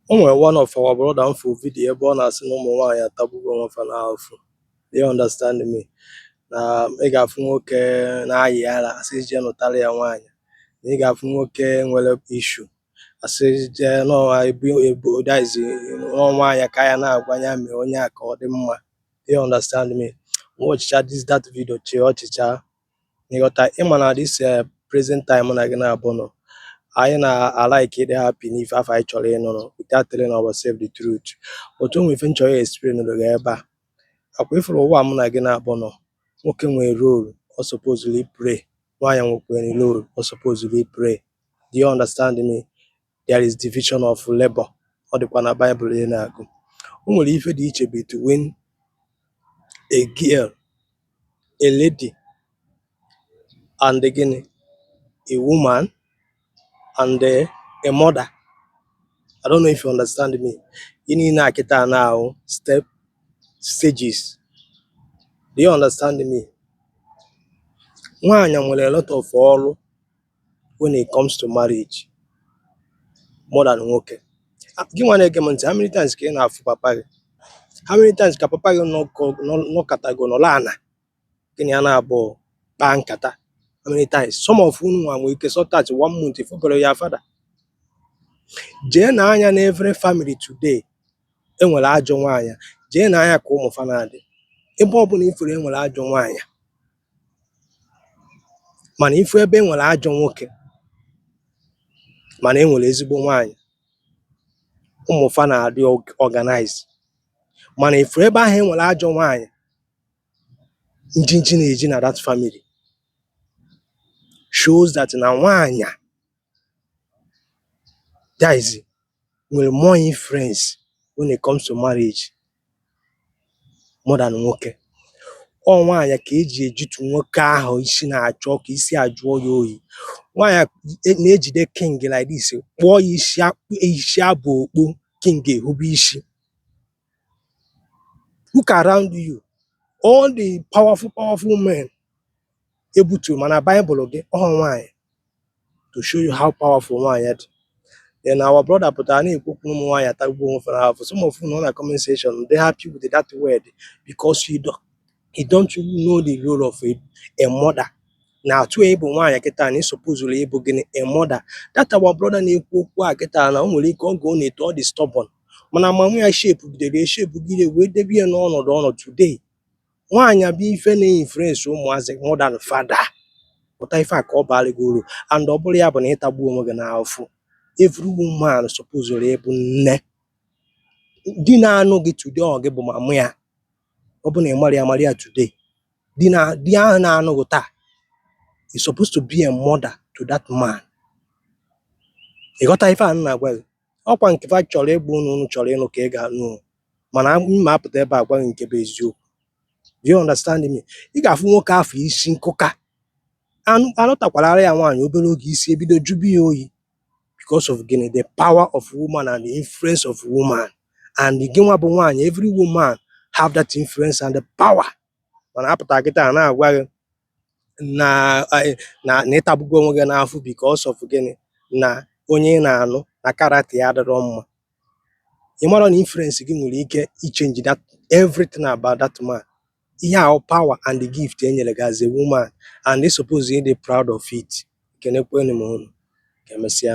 O nwere one of our brother m fụ vidiyo ebe ọ na-asị na ụmụ nwaanyị atagbugo onwe fa n'afụ do you understand me na ị ga-afụ nwoke na-ayị ara asị jee nụtara ya nwaanyị na ị ga-afụ nwoke nwere issue asị jee nụọ ebu ebu daizi nwa nwaanyị ka ya na-agwa ya mee onye a ka ọ dị mma do you understand me m watchchaa this that video chịa ọchị chai ịghọta ị ma na this eh, present time mụ na gị naabọ nọ anyị na-alike ịdị happy n'ife afụ anyị chọrọ ịnụrụ without telling ourselves the truth but o nwere ife m chọrọ ị-explain-ụrụ gị ebe a ọ kwa ị fụrụ ụwa mụ na gị naabọ nọ nwoke nwere role ọ supposụrụ ịplay nwaanyị nwekwere role ọ supposụrụ ịplay do you understand me there is division of labor ọ dịkwa na Bible ị na-agụ o nwere ife dị iche between a girl a lady and gịnị a woman and eh, a mother I don't know if you understand me ife niile a kịta na ọ bụ step stages do you understand me nwaanyị nwere a lot of ọrụ when it comes to marriage more than nwoke ah, gị nwa na-ege m ntị how many times ka ị na-afụ papa gị how many times ka papa gị nọkọtago nọlụ ana gị na ya naabọ kpaa nkata how many times some of unu nwa nwere ike stay one month ị fụberọ your father jee nee anya na every family today e nwere ajọ nwaanyị jee nee anya ka ụmụ fa na-adị ebe ọ bụla ị fụrụ e nwere ajọ nwaanyị Mana ị fụ ebe e nwere ajọ nwoke mana e nwere ezigbo nwaanyị, ụmụ fa na-adị organize. Mana ị fụ ebe ahụ e nwere ajọ nwaanyị, njinji na-eji na that family shows that na nwaanyị a Guys nwere more influence when it comes to marriage more than nwoke. Ọ nwaanyị ka e ji ejitu nwoke ahụ isi na-acha ọkụ isi ajụọ ya oyi. Nwaanyị e- na-ejide king like this kpụọ ya isi a- isi abụ okpu king ehube isi. Look around you all the powerful powerful men ebutu ma na Bible gị ọ nwaanyị to show you how powerful nwaanyị dị then our brother pụtara na-ekwu okwu ụmụ nwaanyị atagbuo onwe fa n'afụ some of unu nọ na comment section dey happy with that word because you don't, you don't know the role of a, a mother na etu ị bụ nwaanyị kịta na ị supposụrụ ịbụ gịnị a mother that our brother na-ekwu okwu a kịta na o nwere ike oge ọ na-eto ọ dị stubborn mana mama ya shapegidere eshapegide wee debe ya n'ọnọdụ ọ nọ today Nwaanyị a bụ ife na-influence ụmụazị more than father. Ghọta ife a ka ọ baara gị uru and ọ bụrọ ya bụ na ịtagbu onwe gị n'afụfụ. Every woman supposed ịbụ nne. Di na-anụ gị today ọ gị bụ mama ya. Ọ bụ na ị marọ ya mara ya today. Di ahụ na-anụ gị taa ị suppose to be a mother to that man. Ị ghọta ife a m na-agwa gị? Ọkwa nke fa chọrọ ịgwa unu unu chọrọ ịnụ ka ị ga-anụ o. mana m apụta ebe a gwa gị nke bụ eziokwu do you understand me ị ga-afụ nwoke afụ isi nkụka a nụtakwaara ya nwaanyị obere oge isi ebido jụba ya oyi because of gịnị the power of woman and the influence of woman and gị nwa bụ nwaanyị every woman have that influence and the power mana apụta kịta a na-agwa gị na na na ị tagbugo onwe gị n'afụfụ because of gịnị na onye ị na-anụ na character ya adịrọ mma ị marọ na influence gị nwere ike ichenji that everything about that man ihe ahụ power and the gift e nyere gị as a woman and ị suppose ịdị proud of it ekenekwenụ m unu ka emesịa